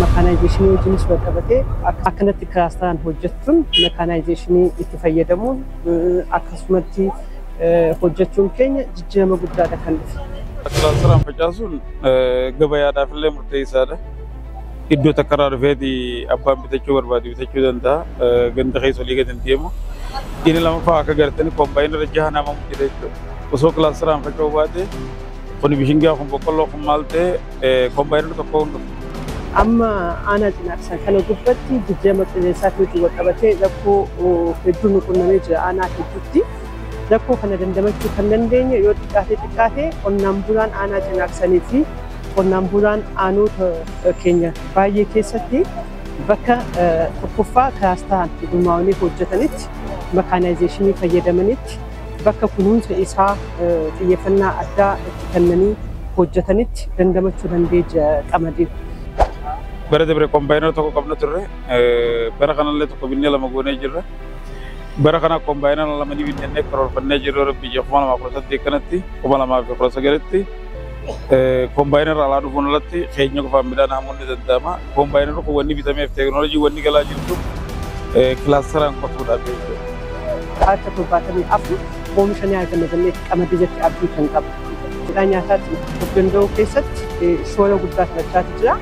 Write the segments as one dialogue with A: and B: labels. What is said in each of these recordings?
A: Makaanaayizeeshinii wajjinis wal qabatee akkanatti kilaastaraan hojjechuun makaanaayizeeshinii itti fayyadamuun akkasumatti hojjechuun keenya jijjiirama guddaadha kan dhufe. Kilaastaraan
B: facaasuun gabayaadhaaf illee murteessaadha. Iddoo takka irraa dhufeeti abbaan bitachuu barbaade bitachuu danda'a. Ganda keessa olii gadi hin deemu. Inni lamaffaa akka gartanii koombaayinii irra jaha nama jira jechuudha. Osoo kilaastaraan faca'uu baate kun bishingaa kun boqqolloo kun maal ta'e kombaayinara tokkoon dhufe. Amma
A: aanaa Cinaaksaa kana gubbatti jijjiirama qilleensaatiin walqabatee rakkoo hedduu nu qunnamee jira aanaa hedduutti. Rakkoo kana dandamachuu kan dandeenye yoo xiqqaatee xiqqaatee qonnaan bulaan aanaa Cinaaksanii fi qonnaan bulaan aanoota keenya baay'ee keessatti bakka tokkoffaa kilaastaran gurmaa'anii hojjetanitti makaanaayizeeshinii fayyadamanitti bakka kunuunsa isaa xiyyeeffannaa addaa itti kennanii hojjetanitti dandamachuu dandeeja qamadiin.
B: Bara dabre kombaayinara tokko qabna turre. Bara kanallee tokko binnee lama goonee jirra. Bara kana kombaayinara lama ni binnannee karoorfannee jirra rabbi ija kuma lamaa kudha saddeet kanatti kuma lamaa fi kudha sagalitti Koombaayinarra alaa dhufuun alatti keenya qofaan midhaan haamuun ni danda'ama. Koombaayinarri kun wanni bitameef teekinooloojii wanni galaa jirtu kilaastaraan qotuudhaaf jechuudha. Harka
A: torbaatamii afur oomisha ni arganna jennee qamadii irratti abdii kan qabu. Midhaan nyaataatiin of danda'uu keessatti shoora guddaa taphachaa jira.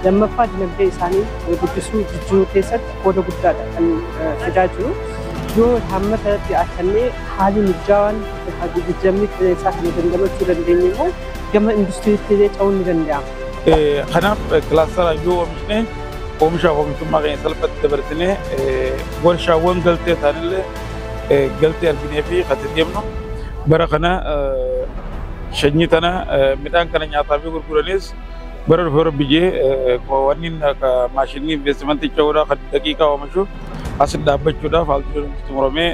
A: Lammaffaa dinagdee isaanii guddisuu jijjiiruu keessatti qooda guddaadha kan fidaa jiru. Yoo haammata irratti hirkannee haalli mijaawaan Egaa jijjiiramni qilleensaa kana dandamachuu dandeenye immoo gama industiriitti illee ce'uun ni danda'ama. Kanaaf
B: kilaastaraan yoo oomishne oomishaaf oomishtummaa keenya salphatti dabarsinee warshaawwan galtee isaanillee galtee arginee fi kan itti deemnu bara kana shanyii tana midhaan kana nyaataa fi gurguranis bara dhufu irra biyyee wanni akka maashinii investimentii ce'uudhaa kan daqiiqaa oomishu as dhaabbachuudhaaf haalduun xumuramee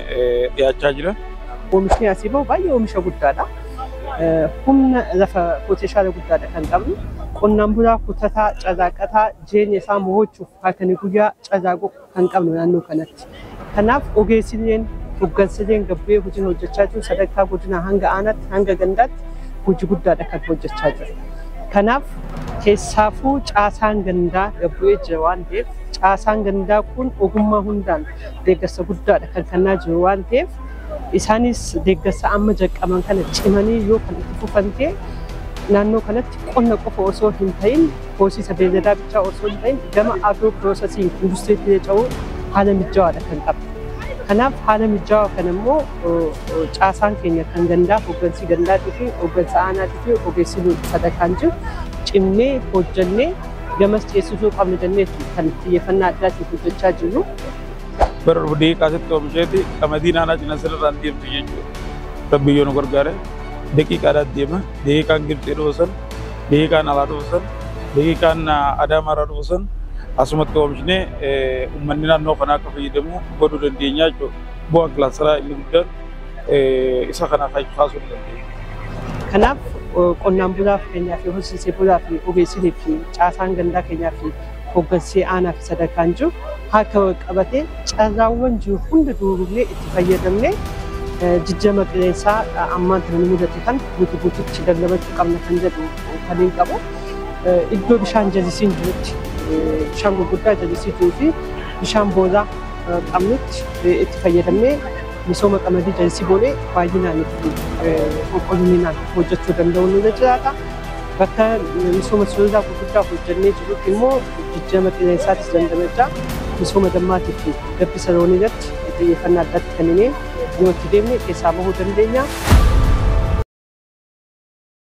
B: dhiyaachaa jira. Oomishni asii bahu
A: baay'ee oomisha guddaadha. Humna lafa pootenshaala guddaadha kan qabnu. Qonnaan bulaa kutataa, carraaqataa jireenya isaa mo'achuuf halkanii guyyaa carraaquu kan qabnu naannoo kanatti. Kanaaf ogeessi illeen hoggansi illeen gabbee hojiin hojjechaa jiru sadarkaa godinaa hanga aanaatti hanga gandaatti hojii guddaadha kan hojjechaa jiru. Kanaaf keessaafuu caasaan gandaa gabbu'ee jira waan ta'eef caasaan gandaa kun ogummaa hundaan deeggarsa guddaadha kan kennaa jiru waan ta'eef isaanis deeggarsa amma jalqaban kana cimanii yoo kan itti fufan ta'e naannoo kanatti qonna qofa osoo hin ta'in horsiisa beeyladaa bichaa osoo hin ta'in gama agroo piroosesiin industiriitti ce'uu haala mijawaadha kan qabu. Kanaaf haala mijaawaa kana immoo caasaan keenya kan gandaa hooggansi gandaatii fi hooggansa aanaatii fi ogeessi sadarkaan jiru cimnee hojjannee gamas ceessisuu qabna jenneetti kan xiyyeeffannaa addaatiin hojjechaa jirru. Bara dhufu
B: daqiiqaa sitti oomisheeti qamadii naannaa cina sirrirraan deemtu jechuudha. Rabbi yoo nu gargaare daqiiqaadhaan deema. Daqiiqaan Gibxii dhufu san, daqiiqaan alaa dhufu san, daqiiqaan Adaamaarraa dhufu san asumatti oomishnee uummanni naannoo kanaa akka fayyadamu godhuu dandeenya jechuudha. Bu'aan kilaastaraa inni guddaan eh, isa kana kan kaasuu ni dandeenya. Kanaaf
A: eh, qonnaan bulaa fakkeenyaa fi horsiisee bulaa fi ogeessinii fi caasaan gandaa keenyaa fi hooggansee aanaa fi sadarkaan jiru harka wal qabatee carraawwan jiru hunda duurugnee itti fayyadamnee eh, jijjiirama qilleensaa eh, ammaan kana nu mudate kan guutu guututti dandamachuu qabna kan jedhu kan hin qabu. Eh, Iddoo bishaan jallisiin jirutti eh, bishaan gurguddaa jallisii jiruu fi bishaan boollaa eh, qabnutti eh, itti fayyadamnee Misooma qamadii jallisii boonee baay'inaan itti qulqullinaan hojjechuu danda'uun irra jiraata. Bakka misooma sululaa gurguddaa hojjennee jirutti immoo jijjiirama qilleensaatis dandamachaa misooma dammaatii fi gabbisa loonii irratti xiyyeeffannaa addaatti kenninee yoo itti deemne keessaa bahuu dandeenya.